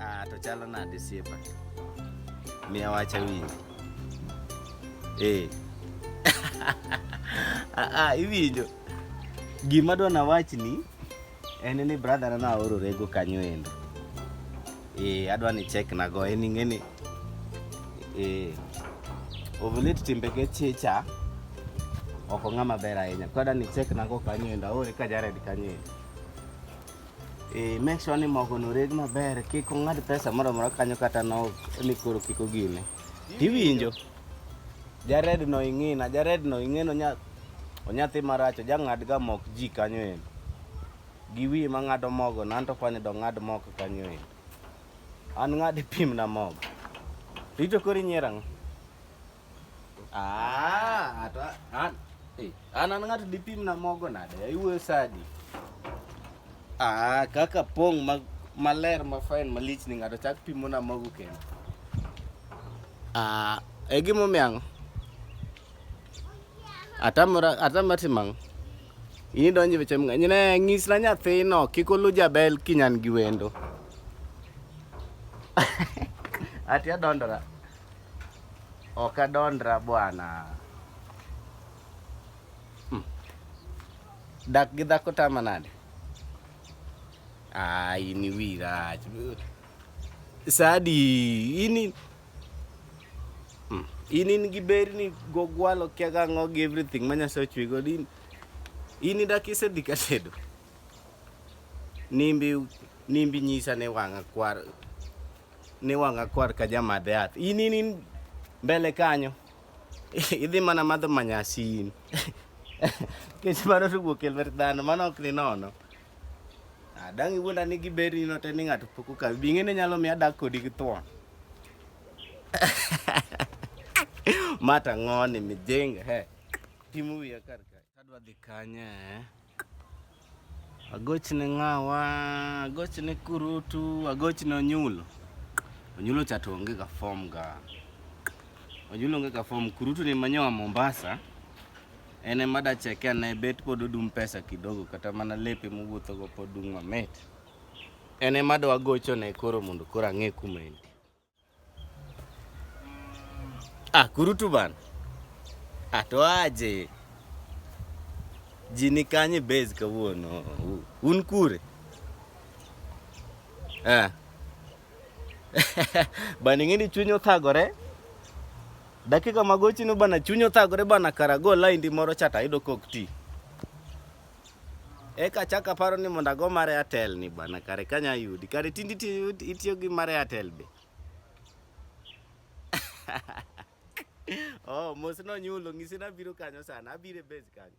Ah, to chalo nade siepa? Miya wacha winji. Eh. Ah, ah, iwinjo. Gima dwa nawachni En ni brother na aoro rego kanyo endo. Eh, adwa ni check na go en ingeni. Eh, ovulate timbe ge chicha. Oko ng'ama ber ahinya. Kwa adwa ni check na go kanyo endo. Aore ka Jared kanyo endo. Eh, make sure ni mogo no reg maber. Kik ong'ad pesa moro moro kanyo kata no ni koro kiko gine. Tiwinjo? Jared no ing'ina, Jared no ing'eno nya onyathi maracho jang'ad ga mok ji kanyo en. Gi wi ma ng'ado mogo na anto kwani do ng'ad mok kanyo en. An ng'ad pim na mogo. Rito kori nyera ng'o? Ah, ato an. Eh, an an ng'ato dipim na mogo nade? Iwuoyo sadi. Ah, kaka pong' ma maler ma fine malich ni ng'ato chak pimo na mogo kendo. Ah, egimomi ang'? Atamora atama timang'. In idonje weche mang'eny. Ne nyisna nyathino kik olu jabel kinyan gi wendo. Ati adondora. Ok adondra bwana. Hmm. Dak gi dhako tama nade? Ah, in iwi rach. Sadi ini hmm, in in gi berni gogwalo kia gang'o gi everything ma nyasaye ochwe god in in idak isedhi ka tedo nimbi nimbi nyisa ne wang'a kwar ne wang'a kwar ka jamadhe yath in in in mbele kanyo idhi mana madho manyasin kech mano to wuok e lwet dhano mano ok ni nono Ah, dang' iwuonda ni giberi no te ni ng'ato pok okawi. Bi ing'e ni nyalo miyo adak kodi gi thuon. Mata ng'oni mijinga he. Timo wiya kar kae. Adwa dhi kanye eh? Agochne ng'awa, agochne kurutu, agochne onyulo. Onyulo cha to onge ga form ga. Onyulo onge ga form, kurutu ni manyoa Mombasa. En ema dacheke ane bet pod odum pesa kidogo kata mana lepe mowuothogo pod dung' mamit. En ema do agochone koro mondo koro ang'e kuma en. Ah, kurutu bana. Ah, to aje. Ji ni kanye base kawuono. Un kure? Ah. Bana ing'e ni chuny othagore. Dakika magochi no bana chuny othagore bana kara go line di moro chata yudo kok ti. Eka chaka paro ni mondo ago mare Airtel ni bana kare kanya yudi. Kare tindi itiyo gi mare Airtel be. oh, mos no nyulo ngisi na biro kanyo sana. Abire base kanyo.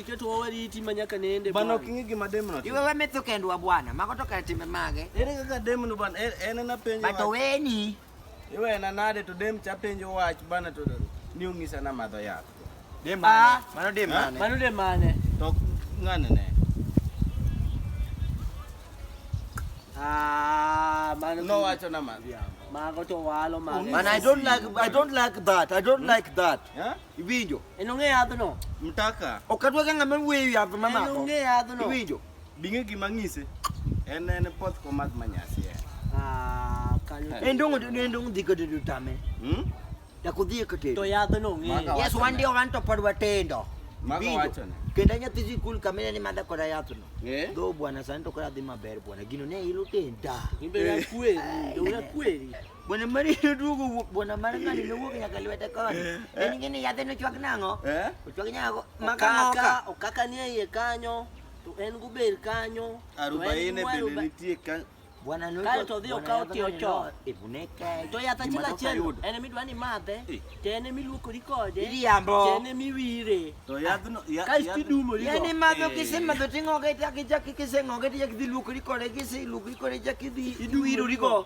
Iketo wa wariti ma nyaka nende. Bana ok ing'e gima demno timo. Iwe wametho kendwa bwana, mago to kar timbe mage. Ere kaka demno bana, en en ena penjo. Bato weni. Iwe ena nade to dem cha penjo wach bana to ni ung'isa na madho yath. Dem mane? Ah. Mano dem mane? Mano dem mane? To ng'ane ne. Ah, mano. No wacho na madho yath. Mago to walo mago. Man, I don't like I don't like that. I don't like that. Yeah? Iwinjo? En ong'e yadhno. Mtaka. Ok adwa ga ng'ama weyo yath ma mako. En ong'e yadhno. Iwinjo? Bing'e gima ng'ise. En en pot komadh manyasi. Ah, kanyo. En dong' en dong' dhi kode to tame. Hmm? Ya kudhi kode. To yadhno ong'e. Yes, wan dio wan to pod watendo. Mago wacho ne. Kenda nyathi sikul kamene ni madha koda yath no. Eh? Dho bwana sani to koda dhi maber bwana. Gino ne ilo tenda. Ibe na kweri, ndo na kweri. Bwana mari duogo wuok bwana mari ngani ne wuok nyaka lwete koni. Eh, eh. En ngini yadhe no chwak nango? Eh? Chwak nyago maka okaka ni iye kanyo to en guber kanyo. Arubaine bende nitie ka Bwana no kae to dhi okaw ti ocho. Ibuneke. To yatha chila chelo. En mi dwani madhe. Eh. To en mi luokori kode. Iriambo. To en mi wire. To yadhno ya. Kae ti dumo rigo. Yani madho kise madho tingo ga itaki jaki kise ngoge ti jaki dhi luokori kode kise luokori kode jaki dhi iduwiro rigo.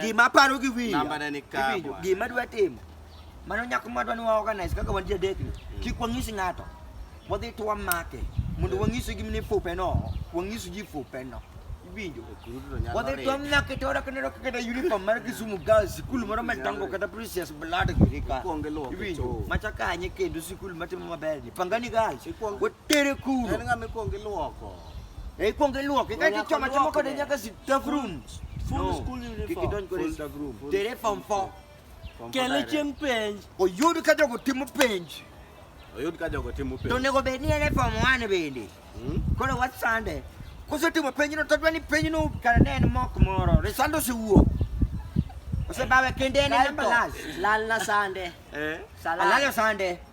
Gima aparo gi wiya. Nambane ni ka, Iwinjo? bwana. Gima adwa timo. Mano nyako ma dwani wa organize kaka wan ji adek ni. Kik wang'is ng'ato. Wadhi to wamake. Mondo wang'is gi ni fupe no. Wang'is ji fupe no. Iwinjo? Kurudu to nyalo Wadhi to ringo. wamake to ora kanero kaka da uniform mar Kisumu Girls sikul moro matango kata Precious Blood giri ka. Ikuongo iluoke Iwinjo? choo. Macha kanye kendo sikul matimo maber ni. Pangani Girls. Ikuongo- Wat- Tere kuro. En ng'ama ikwongo iluoko. E ikwongo iluoke ka ichoma choma kode nyaka staff room. Full school uniform. Kik idonj kode e staff room. Tere form 4. Kele chieng' penj. Oyud ka jogo timo penj. Oyud ka jogo timo penj. To nego bed ni en e form 1 bende. Hmm? Koro wat sande. Kosetimo penjno to dwa ni penjno kare ne en mok moro. Resando osewuok. Osebawe kende en e namba last. Lal na sande. Eh. Lal na sande.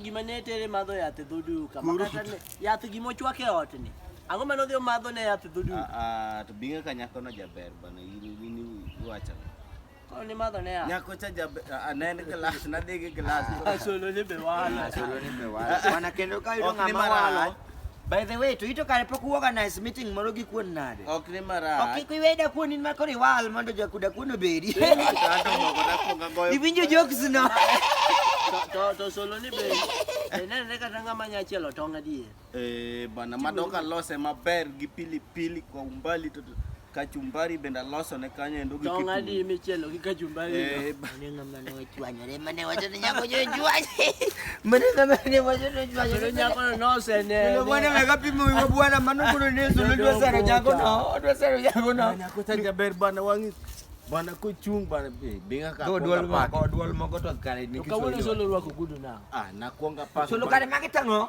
Gima ne tere madho yath e dho duka. Makata ne yath gima ochwak e ot ni. Ang'o mane odhi omadho ne yath e dho duka? Ah, ah, to binga ka nyako no jaber bana in in iwacho. Koro ni madho ne yath. Nyako cha jaber ah, anen glass na digi glass. Solo ni be wala. Solo ni be wala. Wana kendo ka yudo ng'ama wala. By the way, to ito kare pok uorganize meeting moro gi kuon nade? Ok ni marach. Ok kik iweda kuon in makoro iwal mondo jakuda kuon obedi. Iwinjo jokes no. To to solo ni be. Nenene kata ng'ama nya chielo tong' adier. Eh bana madoka lose maber gi pili pili kwa umbali to kachumbari bende aloso ne kanyo endo gi Tong' adi kitungu. michielo gi kachumbari? Eh, ba- Mane ng'ama ne ochwanyore, mane wacho ni nyako jo chwanye. Mane ng'ama ne wacho ni ochwanyore. Kendo nyakono Kendo nosenene. bwana mega pimo wiwa bwana mano kuro ni yesu ne dwa sero jago no odwa sero jago no Nyako cha jaber bana wang'i. Bana kochung' bana be binga ka. go dwol moko dwol moko to kare ni To kawuono kisolo. solo rwako gudu na. Ah, nakwonga pako. Solo kare magi tang'o.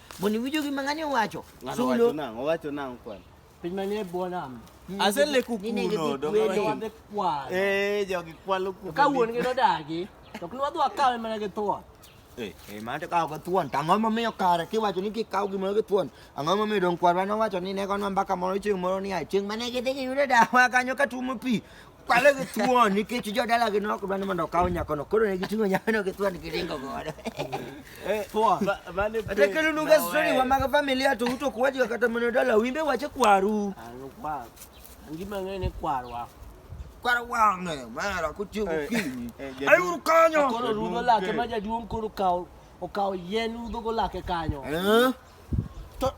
Moni winjo gima ng'ani owacho. Ng'ano wacho Sulu. nang'o? Owacho nang'o kwani? Piny manie bwo nam. Aseleku Nine gi kuno. dong- kweli. Wadhi kwalo. Eh, jogi kwalo kuno. Ka wuon gi nodagi, to ok nwadhi wakawe mana gi thuon. Eh, Eh, mano to kawo gi thuon. To ang'o momiyo kare kiwacho ni kikaw gimoro gi thuon? Ang'o momiyo dong kwarwa nowacho ni ne gonwa mbaka moro chieng' moro ni a chieng' mane gidhi giyudo dawa kanyo ka tuomo pi. Kwale gi thuon nikech jodalagi ne ok dwa ni mondo okaw nyakono, koro ne giting'o nyakono gi thuon giringo godo. Thuon. Kata kelonunga story wa mag familia to uto ok wachga kata mana dala wimbe wache kwaru. Ngima ng'e ni kwarwa. Kwar wang'e mara kotiyo gokinyi. Ayuru kanyo. Koro rudho lake ma jaduong' koro okawo okawo yien rudhogo lake kanyo. Eh? To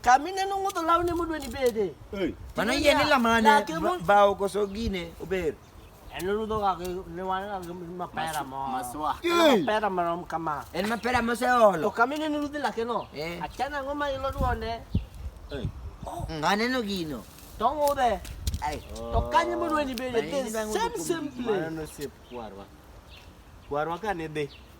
kamine no ng'udho lawne modwa ni bede. Hey. Mano yie ni lamane Lake mo- ba- bao koso gine ober. En rudho ga gi ne wan ga gi mapera mo. Maswa. Hey. Mapera marom kama. En mapera To moseolo. kamine no rudhi lake no. Eh. Achana ang'o ma ilo duonde. Hey. Mm, Aneno gino. To ng'udhe. Ai. To kanye modwa ni bede. Mano The yie ni bang' same ng'udho same kuom- place. Mano nosep kwarwa. Kwarwa ka ne dhi.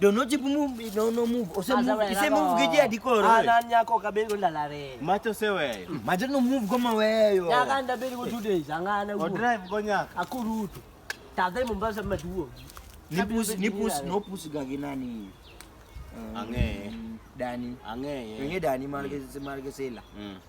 Dono jibu move no no move. Ose move. Ise move gidi adikoro. Ana nyako kabengo lalare. Macho seweyo. Mm. Macho no move goma weyo. Nyaka ndabeli go two days angana. O drive go nyaka. Akurutu. Tadhe Mombasa maduo. Nipus nipus no pus gagi nani. Mm. Ang'eye. Dani. Ang'eye. Ng'eye Dani marge mm. marge sela. Mm.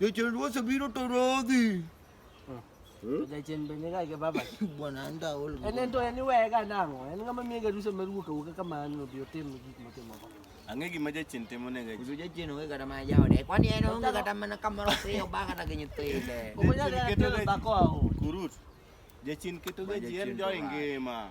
Jachien Ruoth obiro to rodhi. Hmm? Jachien bende ga ga baba. Bwana anda ol. En en to en iwega nang'o? En ng'ama miye garusa mar wuok awuoka kamano obi otim gik motimo go. Ang'e gima jachien timo ne ga. Kudu jachien onge kata mana jaode. Kwani en onge kata mana kamoro piyo ba kata gi nyithinde. Okonya ga telo dhako aho. Kurut. Jachien keto ga ji en jo ingima.